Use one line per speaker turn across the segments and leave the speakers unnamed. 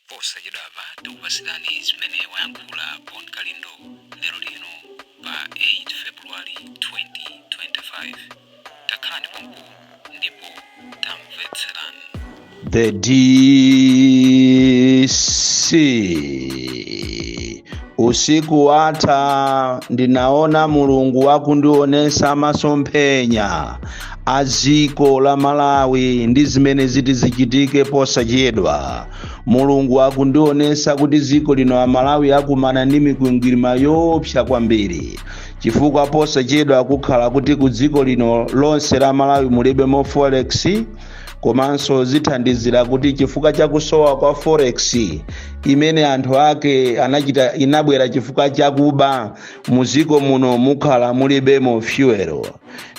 posachedwapa tikupatsirani zimene wayankhula bon kalindo lero lino pa 8 february 2025 takhalani pompo ndipo tamvetserani
The DC usiku watha ndinaona mulungu akundionesa masomphenya a dziko la malawi ndi zimene ziti zichitike posachedwa mulungu akundionesa kuti dziko lino la malawi akumana ndi mikwingwirima yoopsa kwambiri chifukwa posachedwa kukhala kuti ku dziko lino lonse la malawi mulibemo forex komanso zithandizira kuti chifukwa cha kusowa kwa forex imene anthu ake anachita inabwera chifukwa chakuba muziko muno mukhala mulibemo fyuwero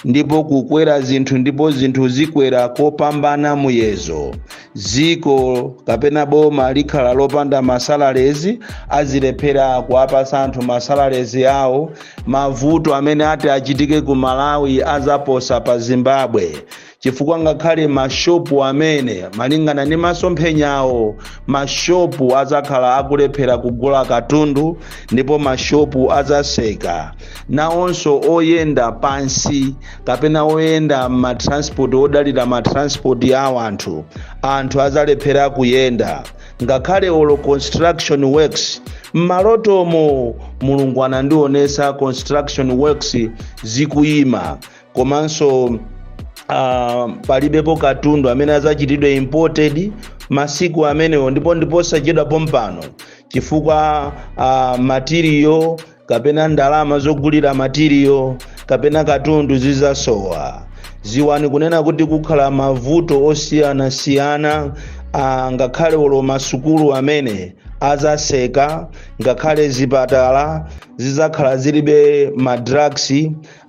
ndipo kukwera zinthu ndipo zinthu zikwera kopambana muyezo dziko kapena boma likhala lopanda masalalezi azilephera kuwapasa anthu masalalezi awo mavuto amene ati achitike ku malawi azaposa pa zimbabwe chifukwa ngakhale mashopu amene malingana ndi masomphenyawo mashopu adzakhala akulephera kugula katundu ndipo mashopu adzaseka nawonso oyenda pansi kapena oyenda matranspoti odalira matranspoti a wanthu anthu adzalephera kuyenda ngakhale olo construction works mmalotomo mulungu anandionesa construction works zikuyima komanso uh, palibepo katundu amene azachitidwe imported masiku amenewo ndipo ndi posachedwa pompano chifukwa uh, matiriyo kapena ndalama zogulira matiriyo kapena katundu zizasowa ziwani kunena kuti kukhala mavuto osiyanasiyana uh, ngakhale olo masukulu amene azaseka ngakhale zipatala zizakhala zilibe madrugs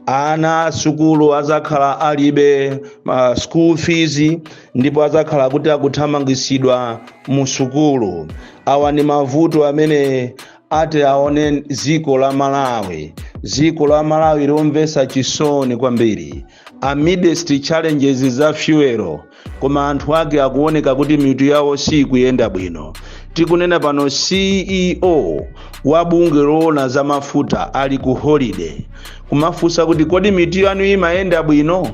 ana a sukulu azakhala alibe uh, school fees ndipo azakhala kuti akuthamangitsidwa mu sukulu awa ni mavuto amene ati aone dziko la malawi dziko la malawi lomvetsa chisoni kwambiri amidst challenges za fuel koma anthu ake akuoneka kuti mitu yawo siikuyenda bwino tikunena pano ceo wa bungwe loona za mafuta ali ku holiday kumafunsa kuti kodi mitu yanu imayenda bwino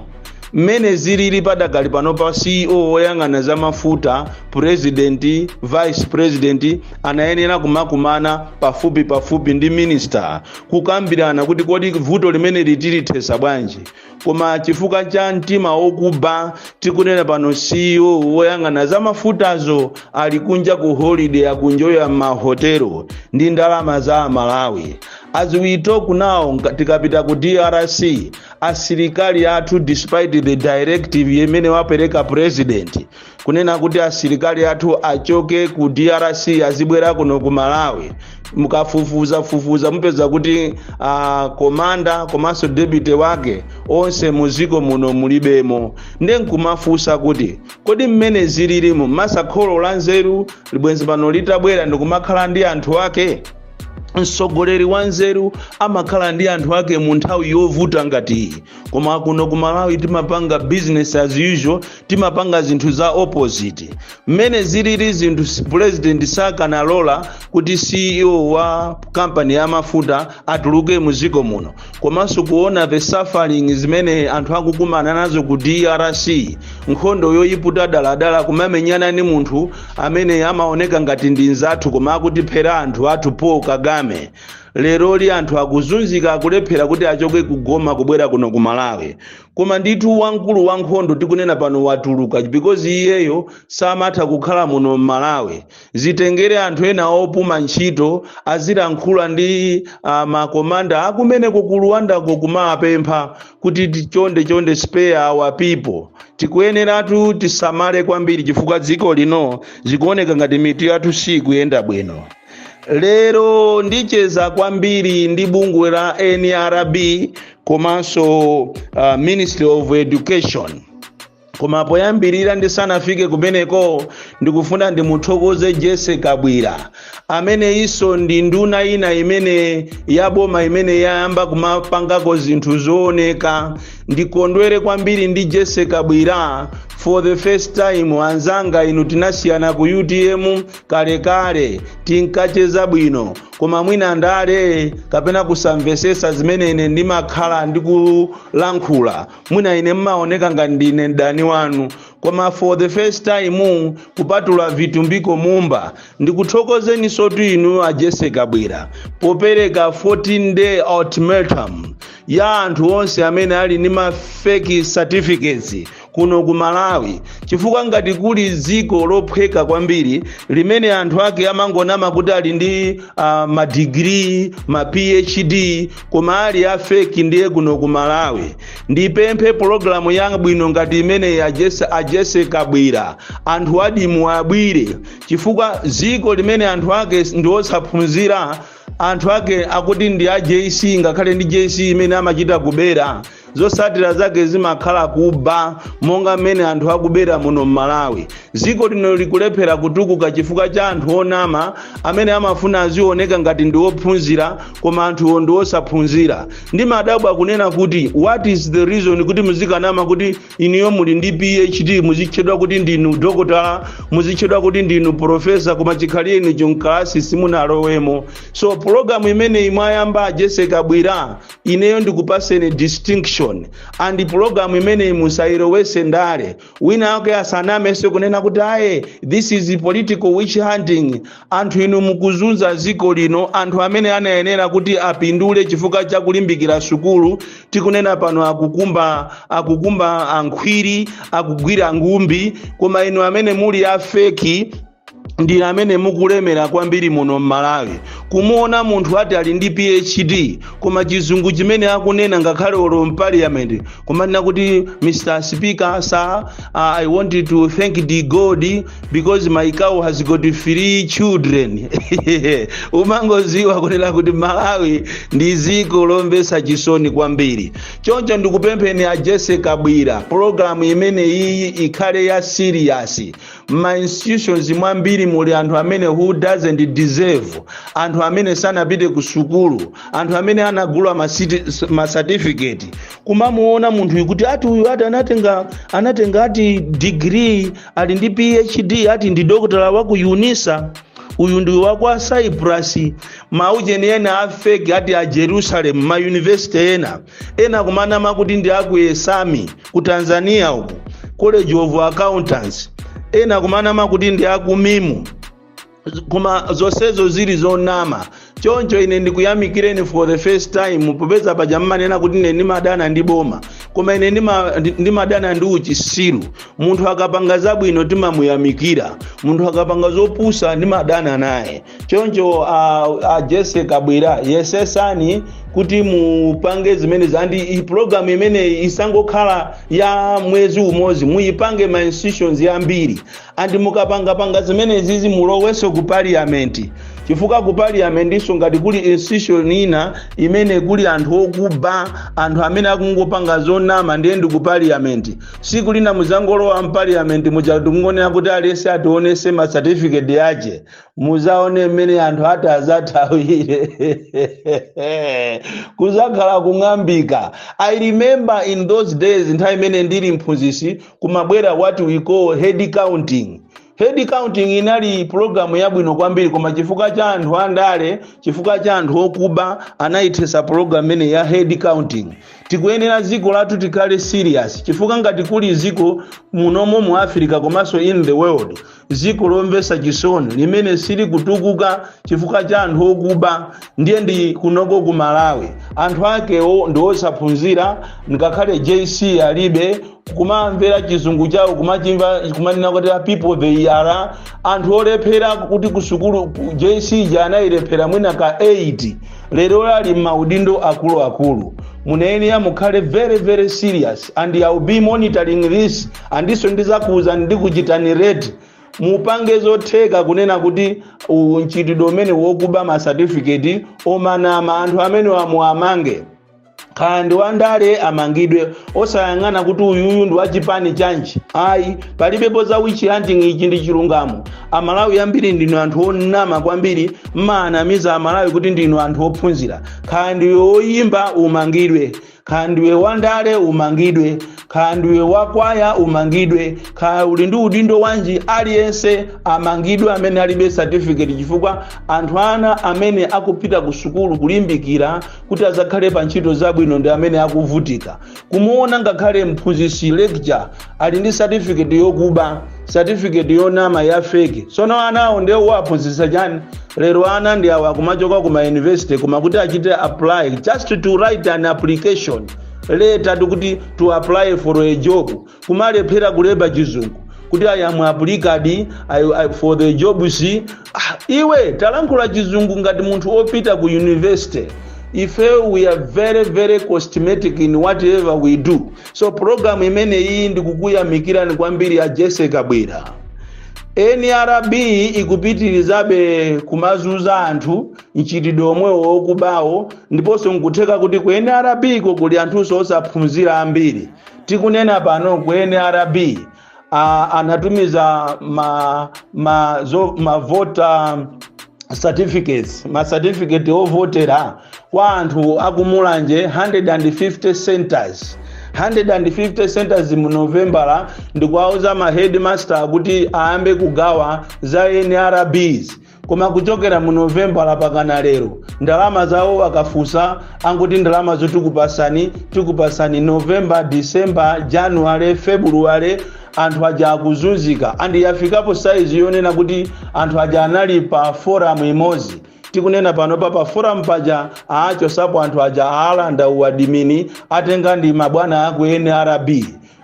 mmene zilili padakali pano pa ceo woyang'ana za mafuta purezidenti vice president anayenera kumakumana pafupi pafupi ndi minista kukambirana kuti kodi vuto limeneli tilithesa bwanji koma chifukwa cha mtima wokuba tikunena pano CEO woyang'ana za mafutazo ali kunja ku holiday akuenjoya m'mahotelo ndi ndalama za amalawi as we talk now nka- tikapita ku drc asilikali athu despite the directive imene wapereka president kunena kuti asilikali athu achoke ku drc azibwera kuno ku malawi mukafufuzafufuza mupeza kuti uh, komanda komanso deputy wake onse muziko muno mulibemo nde nkumafunsa kuti kodi mmene zililimu masakholo la nzeru libwenzi pano litabwera ndikumakhala ndi anthu ake mtsogoleri wa nzeru amakhala ndi anthu ake mu nthawi yovuta ngati iyi koma kuno ku malawi timapanga business as usual timapanga zinthu za opposite mmene zilili zinthu si- president sakanalola kuti ceo wa kampani ya mafuta atuluke mu dziko muno komanso kuona the suffering zimene anthu akukumana nazo ku drc nkhondo yoyiputa daladala kumamenyana ni munthu amene amaoneka ngati ndi nzathu koma akutiphera anthu athu paul kagame lero li anthu akuzunzika akulephera kuti achoke ku Goma kubwera kuno ku malawi koma ndithu wamkulu wa nkhondo tikunena pano watuluka because iyeyo samatha kukhala muno m'malawi zitengere anthu ena opuma ntchito azilankhula ndi uh, makomanda akumeneko ku Rwandako kumawapempha kuti ti- chonde chonde spare our people tikuyeneratu tisamale kwambiri chifukwa dziko lino zikuoneka ngati mitu yathu sikuyenda bwino lero ndicheza kwambiri ndi bungwe la nrb komanso uh, ministry of education koma poyambirira ndisanafike kumeneko ndikufuna ndimuthokoze Jessie Kabwila amene iso ndi nduna ina imene ya boma imene yayamba kumapangako zinthu zooneka ndikondwere kwambiri ndi Jessie Kabwila for the first time anzanga inu tinasiyana ku utm kalekale tinkacheza bwino koma mwina ndale kapena kusamvetsetsa zimene ine ndimakhala ndikulankhula mwina ine mmaoneka ngati ndine mdani wanu koma for the first time kupatula vitumbiko mumba ndikuthokozeninsotu inu a Jessie Kabwila popereka 14 day ultimatum ya anthu onse amene ali ndi ma fake certificates kuno ku malawi chifukwa ngati kuli dziko lophweka kwambiri limene anthu ake amangonama kuti ali ndi uh, madigiri ma phd koma ali a feki ndiye kuno ku malawi ndipemphe pologalamu yabwino ngati imeneyi a Jessie, a Jessie Kabwila anthu adimu abwire chifukwa dziko limene anthu ake ndi osaphunzira anthu ake akuti ndi a jc ngakhale ndi jc imene amachita kubera zotsatira zake zimakhala kuba monga mmene anthu akubera muno m'malawi dziko lino likulephera kutukuka chifukwa cha anthu onama amene amafuna azioneka ngati ndi ophunzira koma anthuwo ndi osaphunzira ndimadabwa kunena kuti what is the reason kuti muzikanama kuti inuyo muli ndi phd muzitchedwa kuti ndinu dokotala muzitchedwa kuti ndinu profesa koma chikhalire inu cho mkalasi simunalowemo so pulogalamu imeneyi mwayamba a jesse kabwira ineyo ndikupaseni distinction and pulogalamu imeneyi musayilowetse ndale wina ake asanamenso kunena kuti aye this is political witch hunting anthu inu mukuzunza dziko lino anthu amene anayenera kuti apindule chifukwa cha kulimbikira sukulu tikunena pano akukumba akukumba ankhwiri akugwira ngumbi koma inu amene muli afeki ndinu amene mukulemera kwambiri muno m'malawi kumuona munthu ati ali ndi phd koma chizungu chimene akunena ngakhale olo mpaliyamenti kumanena kuti mr speaker sir uh, i want to thank the god because my cow has got three children umangoziwa kunena kuti malawi ndi ziko lomvesa chisoni kwambiri choncho ndikupempheni a jesse kabwira pologalamu imene iyi ikhale ya siriyasi mma institutions mwambiri muli anthu amene who doesn't deserve anthu amene sanapite ku sukulu anthu amene anagula ma citi- s- ma certificate kumamuona munthuyu kuti ati uyu ati anatenga anatenga ati degree ali ndi phd ati ndi dokotala wa ku unisa uyu ndi wa kwa cyprus maujeni ena afeki ati a jerusalem ma university ena ena kumanama kuti ndi aku esami ku tanzania ku college of accountants ena kumanama kuti ndi aku mimu koma zonsezo zili zonama choncho ine ndikuyamikireni for the first time popeza paja mmanena kuti ine ndimadana ndi boma koma ine ndima- ndi- ndimadana ndi uchisiru munthu akapanga zabwino timamuyamikira munthu akapanga zopusa ndimadana naye choncho a, a jese kabwira yesesani kuti mupange zimenezi and programu imeneyi isangokhala ya mwezi umodzi muyipange ma institutions yambiri andi mukapangapanga zimenezizi mulowenso ku parliament chifukwa ku parliamentinso ngati kuli institution ina imene kuli anthu okuba anthu amene akungopanga zonama ndiye ndi ku parliament siku lina muzangolowa mpaliamenti muja ndikungonena kuti aliyese ationese ma certificate yache muzaone mmene anthu atazathawire kuzakhala kung'ambika i remember in those days nthawi imene ndili mphunzitsi kumabwera what we call head counting head counting inali pulogalamu yabwino kwambiri koma chifukwa cha anthu andale chifukwa cha anthu okuba anayithetsa pulogalamu imene ya head counting tikuyenera dziko lathu tikhale serious chifukwa ngati kuli dziko munomo mu africa komanso in the world dziko lomvetsa chisoni limene silikutukuka chifukwa cha anthu okuba ndiye ndi kunoko ku malawi anthu akewo ndi osaphunzira ngakhale jc alibe kumamvera chizungu chawo kumachimva kumanena kuti people they are anthu olephera kuti kusukulu jc ija anayilephera mwina ka 8 lero ali m'maudindo akuluakulu munayenera mukhale very very serious and i will be monitoring this ndiponso ndizakuuzani ndikuchitani rate mupange zotheka kunena kuti u- mchitidwe umene wokuba ma certificate omanama anthu amene wamuwamange kaya ndi wandale amangidwe osayang'ana kuti uyuyu ndi wachipani chanji ayi palibepo za witch hunting ichi ndi chilungamo amalawi ambiri ndinu anthu onama kwambiri mmaanamiza amalawi kuti ndinu anthu ophunzira kaya ndiwe oyimba umangidwe kaya ndiwe wandale umangidwe kaya ndiwe wakwaya umangidwe kaya uli ndi udindo wanji aliyense amangidwe amene alibe certificate chifukwa anthu ana amene akupita ku sukulu kulimbikira kuti azakhale pa ntchito zabwino ndi amene akuvutika kumuona ngakhale mphunzitsi lecturer ali ndi certificate yokuba certificate yonama ya fake sono anawo ndiye uwaphunzitsa chani lero ana ndi awo kumachoka ku mayunivesity koma kuti achite apply just to write an application letter kuti to apply for a job kumalephera kulemba chizungu kuti i am applicant for the jobs iwe talankhula chizungu ngati munthu opita ku university ife we are very very cosmetic in whatever we do so pulogalamu imene iyi ndikukuyamikirani kwambiri a jessie kabwila nrb ikupitirizabe kumazunza anthu mchitidwe omwewo wokubawo ndiponso nkutheka kuti ku nrb ko kuli anthunso osaphunzira ambiri tikunena pano ku nrb a, anatumiza ma, ma, zo, ma voter certificates ma certificate ovotera kwa anthu akumulanje 150 centers 150 centers mu novembala ndikuwauza ma headmaster kuti ayambe kugawa za nrbs koma kuchokera mu novembala pakana lero ndalama zawo akafunsa anguti ndalama zotikupasani tikupasani novemba disemba januwale februwale anthu aja akuzunzika andi yafikapo saizi yonena kuti anthu aja anali pa foramu imodzi tikunena pano pa paforamu paja aachosapo anthu aja aalanda uwadimini atenga ndi mabwana aku nrb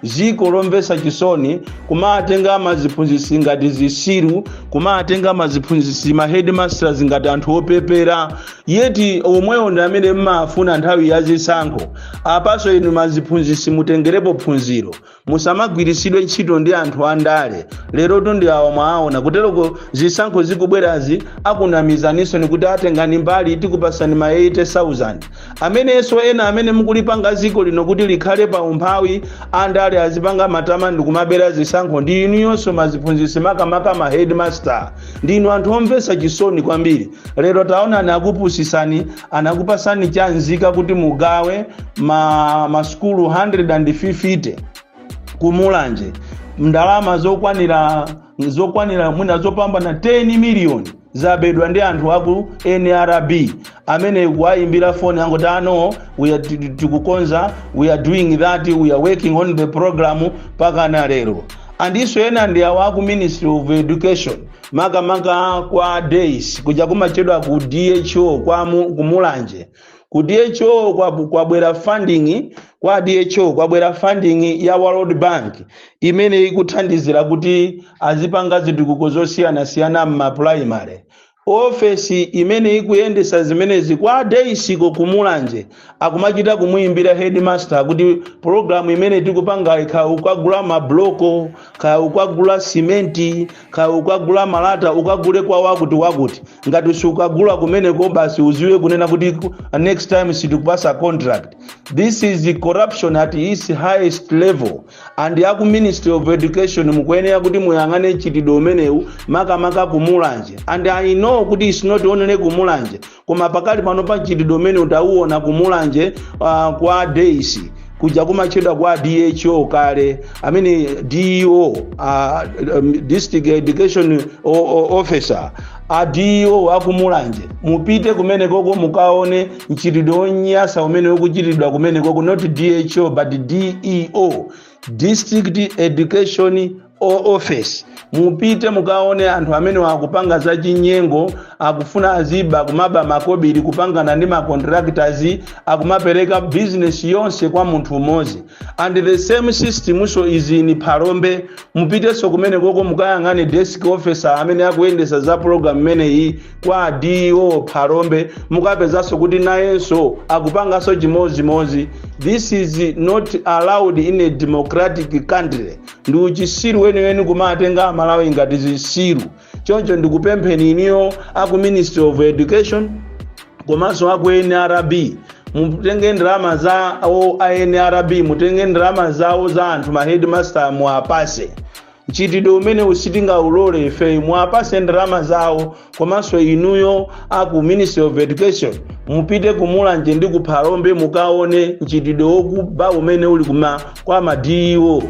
ziko lomvetsa chisoni kumatenga maziphunzitsi ngati zisiru kumatenga maziphunzitsi ma headmasters ngati anthu opepera yeti omwewo ndi amene mmafuna nthawi ya zisankho apaso inu maziphunzitsi mutengerepo phunziro musamagwiritsidwe ntchito ndi anthu andale lerotu ndi awa mwaona kuteroko zisankho zikubwerazi akunamizaninso ndikuti atengeni mbali tikupasani ma 80000 amenenso ena amene mukulipanga dziko lino kuti likhale pa umphawi andale azipanga matama ndi kumabera zisankho ndi inuyonso maziphunzitsi makamaka ma headmaster ndinu anthu omvetsa chisoni kwambiri lero taonani akupusitsani anakupasani chanzika kuti mugawe ma, ma skulu 150 kumulanje ndalama zokwanira zokwanira mwina zopambana 10 miliyoni zabedwa ndi anthu aku nrb amene kuwayimbira foni angoti ano we are- ti- ti- tikukonza we are doing that we are working on the program mpakana lero andiso ena ndi awa aku ministry of education makamaka kwa days kuja kumatchedwa ku dho kwa mu- kumulanje ku dho kwabu- kwabwera funding kwa dho kwabwera funding ya world bank imene ikuthandizira kuti azipanga zitukuko zosiyanasiyana m'mapulaimale ofesi imene ikuyendetsa zimenezi kwa daysiko kumulanje akumachita kumuyimbira headmaster kuti pologalamu imene tikupanga kaya ukagula mabloko kaya ukagula simenti kaya ukagula malata ukagule kwa wakuti wakuti ngati sukagula kumeneko basi udziwe kunena kuti ku- next time sitikupatsa contract this is the corruption at its highest level and aku ministry of education mukuyenera kuti muyang'ane mchitidwe umenewu makamaka kumulanje and i know kuti its not only kumulanje koma pakali pano pa mchitidwe umene tawuona ku mulanje uh, kwa days kuja kumatchedwa kwa dho kale amene deo uh, um, district education o- o- officer a deo akumulanje mupite kumenekoko mukaone mchitidwe wonyasa umene ukuchitidwa kumenekoko not dho but deo district education o office mupite mukaone anthu amenewa akupanga za chinyengo akufuna aziba kumaba makobiri kupangana ndi macontractors akumapereka business yonse kwa munthu umodzi and the same systemnso is in phalombe mupitenso kumene koko mukayang'ane desk officer amene akuyendetsa za program imeneyi kwa deo phalombe mukapezanso kuti nayenso akupanganso chimodzimodzi this is not allowed in a democratic country ndi uchisiru weniweni kumatenga amalawi ngati zisiru choncho ndikupempheni iniyo aku ministry of education komanso aku nrb mutenge ndalama za awo a nrb mutenge ndalama zawo za anthu ma headmaster muwapase mchitidwe umenewu sitingaulole ife muwapase ndalama zawo komanso inuyo aku ministry of education mupite kumulanje ndi kuphalombe mukaone mchitidwe wokuba umene uli kuma kwa ma DEO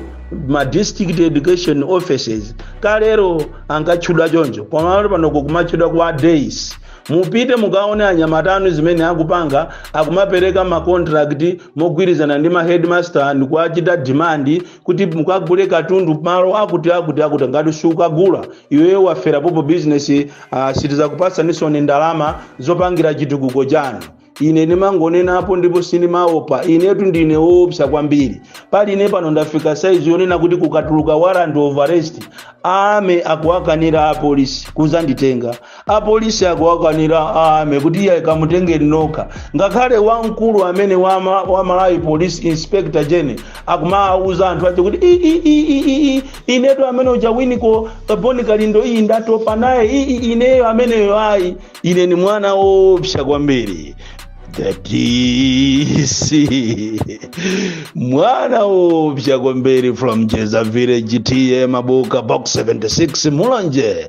ma district education offices kalero ankatchedwa choncho koma panopo kukumatchedwa kwa days mupite mukaone anyamatanu zimene akupanga akumapereka makontrakt mogwirizana ndi ma headmaster ndi kuwachita demand kuti mukagule katundu malo akuti akuti akuti ngati siukagula iweyo wafera popo bizinesi uh, sitizakupatsanisoni ndalama zopangira chitukuko chanu ine ndimangonenapo ndipo sindimaopa inetu ndine woopsa kwambiri pali ine pano ndafika size yonena kuti kukatuluka warrant of arrest ame akuwakanira apolisi kuzanditenga apolisi akuwakanira ame kuti ii kamutengeni nokha ngakhale wamkulu amene wa ma- wa malawi police inspector gene akumawuza anthu ache kuti "I, i, i, i, i, i, inetu amene uja winiko boni kalindo iyi ndatopa naye "I, i, ineyo ameneyo ayi ine ndi mwana woopsa kwambiri the DC mwana woopsa kwambiri from jeza village TA mabuka box 76 mulanje